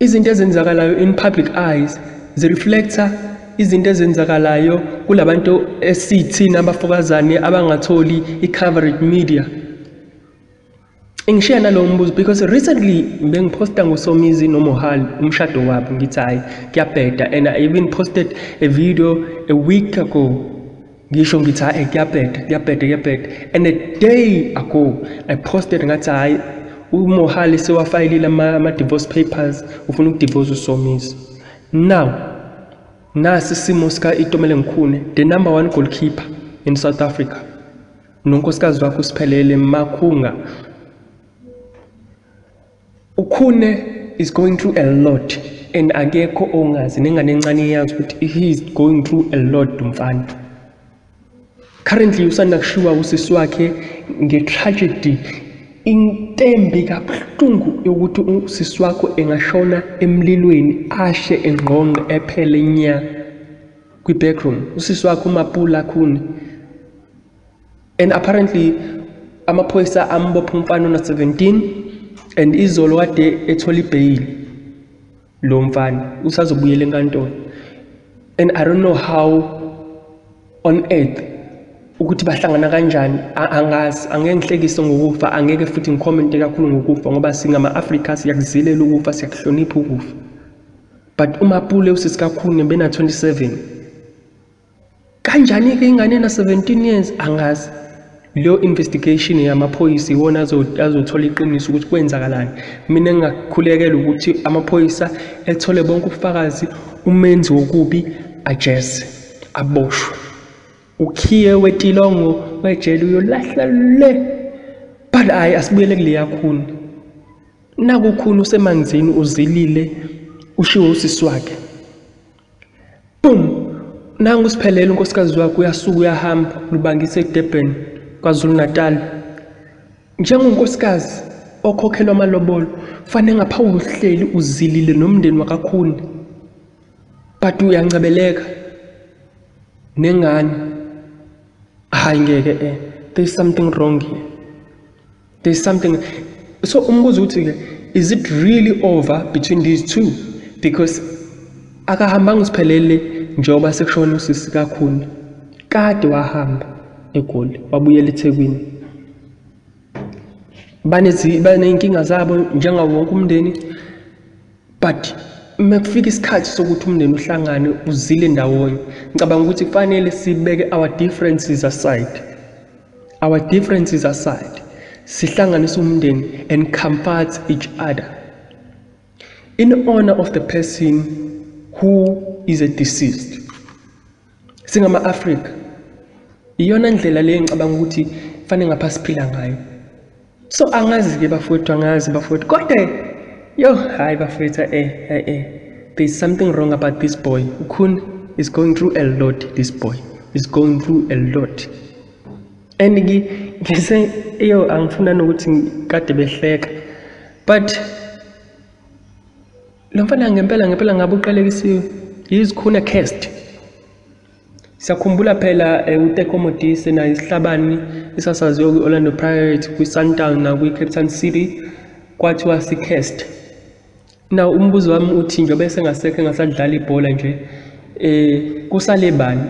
Izinto ezenzakalayo in public eyes zireflecta izinto ezenzakalayo kulabantu esithina abafokazane abangatholi i-coverage media ngishiya nalowo mbuzo because recently bengiphosta ngosomizi nomohal umshado wabo ngithi hhayi kuyabheda and i even posted a video a week ago ngisho ngithi hayi kuyabheda kuyabheda kuyabheda and a day ago i posted ngathi hayi umohali sewafayilile ama-divorce papers ufuna ukudivorce usomiso now nasi isimo sika-itomele ngikhune the number one goalkeeper in south africa nonkosikazi wakho usiphelele makhunga Ukhune is going through a lot and akekho ongazi nengane encane iyazi ukuthi he is going through a lot mfana currently usanda kushiwa usisi wakhe nge-tragedy intembi kabuhlungu yokuthi usisi wakho engashona emlilweni ashe engqongqe ephele nya kwi-backroom usisi wakho umapula khuni and apparently amaphoyisa ambopha umfana ona 17 and izolo kade ethola ibheyili lo mfana usazobuyela enkantolo and i don't know how on earth ukuthi bahlangana kanjani angazi angeke ngihlekise ngokufa angeke futhi ngikhomente kakhulu ngokufa ngoba singama-afrika siyakuzilela ukufa siyakuhlonipha ukufa but umapule usisikakhuni bena-27 Kanjani-ke ingane ena-17 years angazi. Leyo investigation yamaphoyisa iwona azothola iqiniso ukuthi kwenzakalani. Mina ngingakhulekela ukuthi amaphoyisa ethole bonke ubufakazi umenzi wokubi ajeze aboshwe. Ukhiye wetilongo wejele uyolahla le. But hayi asibuyele kuleya khuni. Nakukhuni usemanzini uzilile ushiwo usisi wakhe. Boom! Nangu usiphelele unkosikazi wakhe uyasuka uyahamba lubangise eDurban KwaZulu-Natal. Njengonkosikazi okhokhelwa amalobolo fanele ngapha uhleli uzilile nomndeni wakakhuni but uyancebeleka nengane hayi ngeke eh there's something wrong here. there's something so umbuzo ukuthi ke is it really over between these two because akahambanga usiphelele njengoba sekushona usisi kakhulu kade wahamba egoli wabuyela ethekwini baney'nkinga zabo njengawo wonke umndeni but mekufika isikhathi sokuthi umndeni uhlangane uzile ndawonye ngicabanga ukuthi kufanele sibeke our differences aside our differences aside sihlanganise umndeni and comfort each other in honor of the person who is a deceased singama-afrika iyona ndlela leyo ngicabanga ukuthi fanele ngapha siphila ngayo so angazi-ke bafowethu angazi bafowethu kodwa yo hhayi bafowethu e e e there is something wrong about this boy ukhuni is going through a lot this boy is going through a lot and ngise yo angifuna nokuthi kade behleka but Lo mfana ngempela ngempela ngabe uqalekisiwe yizikhuna cast. Siyakhumbula phela eh, uTeko Modise naye isihlabani esasaziwa kwi-Orlando Pirates, kwi-Sundown nakwi-Cape Town City kwathiwa si-cast. Now umbuzo wami uthi njengoba esengasekho engasadlali ibhola nje eh kusale bani?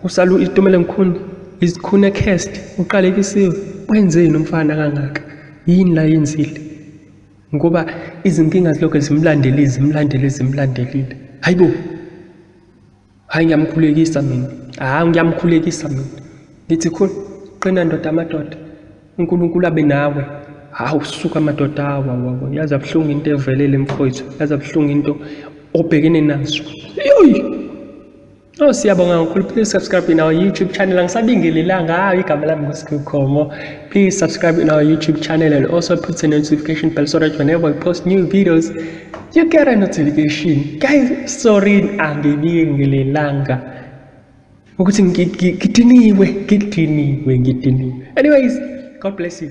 Kusala uItumelo Mkhuni, izikhuna cast, uqalekisiwe. Wenzeni umfana kangaka? Yini la yenzile? ngoba izinkinga zilokhu zimlandelile zimlandelile zimlandelile hayi bo hayi ngiyamkhulekisa mina hayi ngiyamkhulekisa mina ngithi khona qina ndoda amadoda unkulunkulu abe nawe hawu suka amadoda awa wawa yazi abuhlungu into evelele mfowethu yazi abuhlungu into obhekene nazo yoyi Oh siyabonga kakhulu please subscribe in our YouTube channel angisabingelelanga hayi igama lami nguSkhukhomo please subscribe in our YouTube channel and also put the notification bell so that whenever we post new videos you get a notification guys sorry angibingelelanga ukuthi ngidiniwe ngidiniwe ngidiniwe anyways god bless you